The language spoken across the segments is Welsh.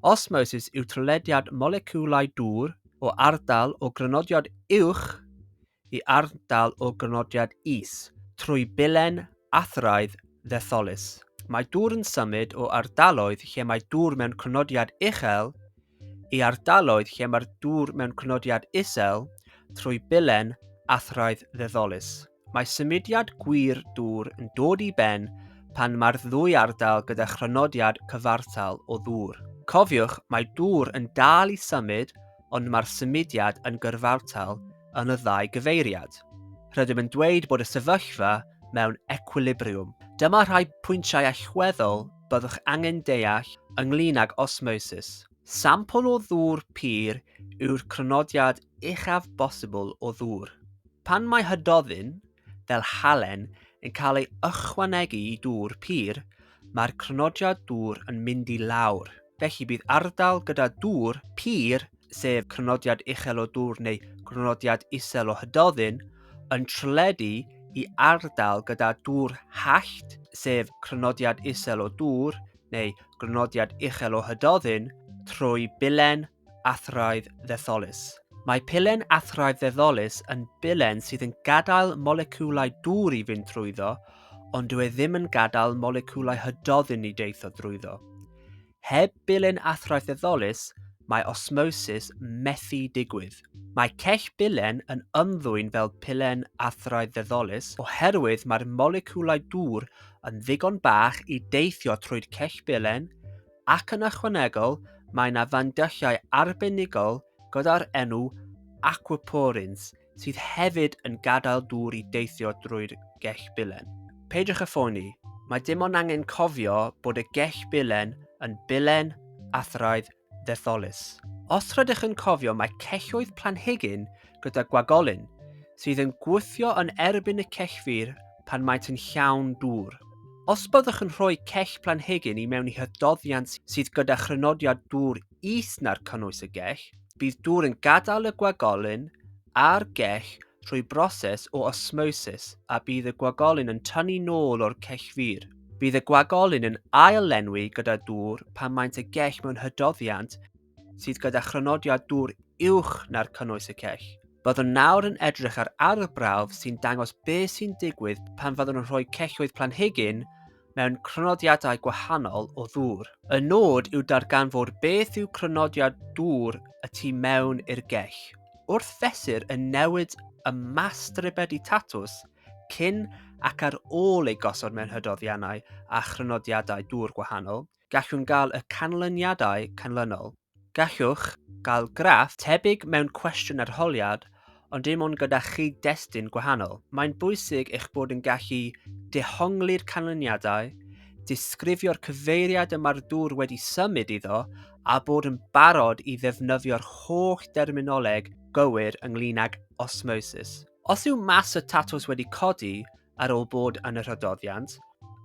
Osmosis yw trylediad moleciwlau dŵr o ardal o grynodiad uwch i ardal o grynodiad is trwy bilen athraidd ddetholus. Mae dŵr yn symud o ardaloedd lle mae dŵr mewn crynodiad uchel i ardaloedd lle mae'r dŵr mewn crynodiad isel trwy bilen athraidd ddetholus. Mae symudiad gwir dŵr yn dod i ben pan mae'r ddwy ardal gyda chrynodiad cyfartal o ddŵr. Cofiwch, mae dŵr yn dal i symud ond mae'r symudiad yn gyrfartal yn y ddau gyfeiriad. Rydym yn dweud bod y sefyllfa mewn equilibriwm. Dyma rhai pwyntiau allweddol byddwch angen deall ynglŷn ag osmosis. Sampl o ddŵr pur yw'r crynodiad uchaf bosibl o ddŵr. Pan mae hydoddyn, fel halen, yn cael ei ychwanegu i dŵr pur, mae'r crynodiad dŵr yn mynd i lawr. Felly bydd ardal gyda dŵr pur, sef crynodiad uchel o ddŵr neu grynodiad isel o hydoddyn, yn trwledu i ardal gyda dŵr hallt, sef crynodiad isel o ddŵr, neu grynodiad uchel o hydoddyn trwy bilen athraidd ddetholus. Mae pilen athraidd ddetholus yn bilen sydd yn gadael moleciwlau dŵr i fynd trwyddo, ond dyw e ddim yn gadael moleciwlau hydoddyn i deithio drwyddo. Heb bilen athraidd ddetholus, mae osmosis methu digwydd. Mae cell bilen yn ymddwyn fel pilen athraeth ddeddolus oherwydd mae'r moleciwlau dŵr yn ddigon bach i deithio trwy'r cell bilen, ac yn ychwanegol mae yna fandylliau arbenigol gyda'r enw aquaporins sydd hefyd yn gadael dŵr i deithio drwy'r gell bilen. Peidiwch â phoeni, mae dim ond angen cofio bod y gell bilen yn bilen athraeth ddetholus. Os rydych yn cofio mae celloedd planhigyn gyda gwagolyn sydd yn gwthio yn erbyn y cellfur pan maent yn llawn dŵr. Os byddwch yn rhoi cell planhigyn i mewn i hydoddiant sydd gyda chrynodiad dŵr is na'r cynnwys y gell, bydd dŵr yn gadael y gwagolyn a'r gell trwy broses o osmosis a bydd y gwagolyn yn tynnu nôl o'r cech fur. Bydd y gwagolyn yn ail-lenwi gyda dŵr pan maent y gech mewn hydoddiant sydd gyda chronodiad dŵr uwch na'r cynnwys y cech. Byddwn nawr yn edrych ar arwr brawf sy'n dangos beth sy'n digwydd pan fyddwn yn rhoi celloedd planhigyn mewn crynodiadau gwahanol o ddŵr. Y nod yw darganfod beth yw crynodiad dŵr y tu mewn i'r gell. Wrth fesur y newid y mas stribedi tatws cyn ac ar ôl ei gosod mewn hydoddiannau a chrynodiadau dŵr gwahanol, gallwn gael y canlyniadau canlynol. Gallwch gael graff tebyg mewn cwestiwn arholiad ond dim ond gyda chyd-destun gwahanol. Mae'n bwysig eich bod yn gallu dehongli'r canlyniadau, disgrifio'r cyfeiriad y mae'r dŵr wedi symud iddo a bod yn barod i ddefnyddio'r holl derminoleg gywir ynglŷn ag osmosis. Os yw mas y tatws wedi codi, ar ôl bod yn y rhydoddiant,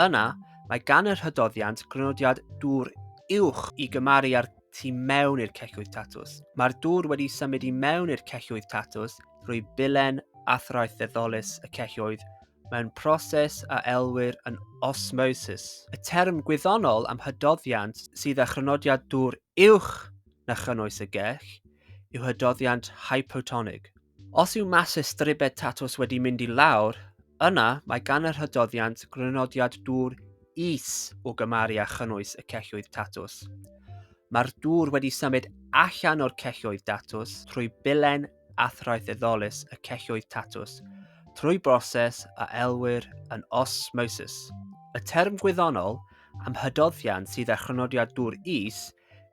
yna mae gan y rhydoddiant grynodiad dŵr uwch i gymaru â'r tu mewn i'r celloedd tatws. Mae'r dŵr wedi symud i mewn i'r celloedd tatws drwy bilen athraitheddolus y celloedd mewn proses a elwir yn osmosis. Y term gwyddonol am hydoddiant sydd â chrynodiad dŵr uwch na chynnwys y gell yw hydoddiant hypotonig. Os yw masau stribed tatws wedi mynd i lawr, yna mae gan yr hydoddiant grynodiad dŵr is o gymaru â chynnwys y celloedd tatws. Mae'r dŵr wedi symud allan o'r celloedd datws trwy bilen athraitheddolus y celloedd tatws, trwy broses a elwir yn osmosis. Y term gwyddonol am hydoddiant sydd â chrynodiad dŵr is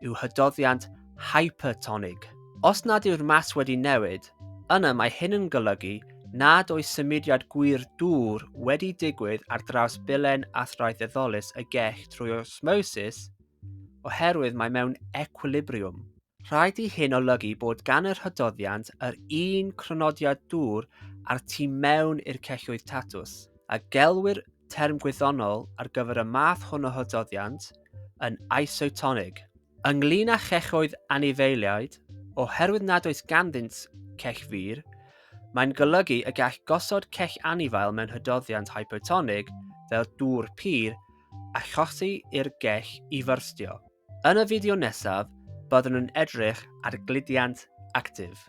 yw hydoddiant hypertonig. Os nad yw'r mas wedi newid, yna mae hyn yn golygu nad oes symudiad gwir dŵr wedi digwydd ar draws bilen athraeth eddolus y gell trwy osmosis oherwydd mae mewn ecwilibriwm. Rhaid i hyn olygu bod gan yr hydoddiant yr un crynodiad dŵr a'r tu mewn i'r celloedd tatws, a gelwir term gwyddonol ar gyfer y math hwn o hydoddiant yn isotonig. Ynglŷn â chechoedd anifeiliaid, oherwydd nad oes ganddynt cech fur, mae'n golygu y gall gosod cech anifail mewn hydoddiant hypotonig fel dŵr pur a chosi i'r gech i fyrstio. Yn y fideo nesaf, byddwn yn edrych ar gludiant actif.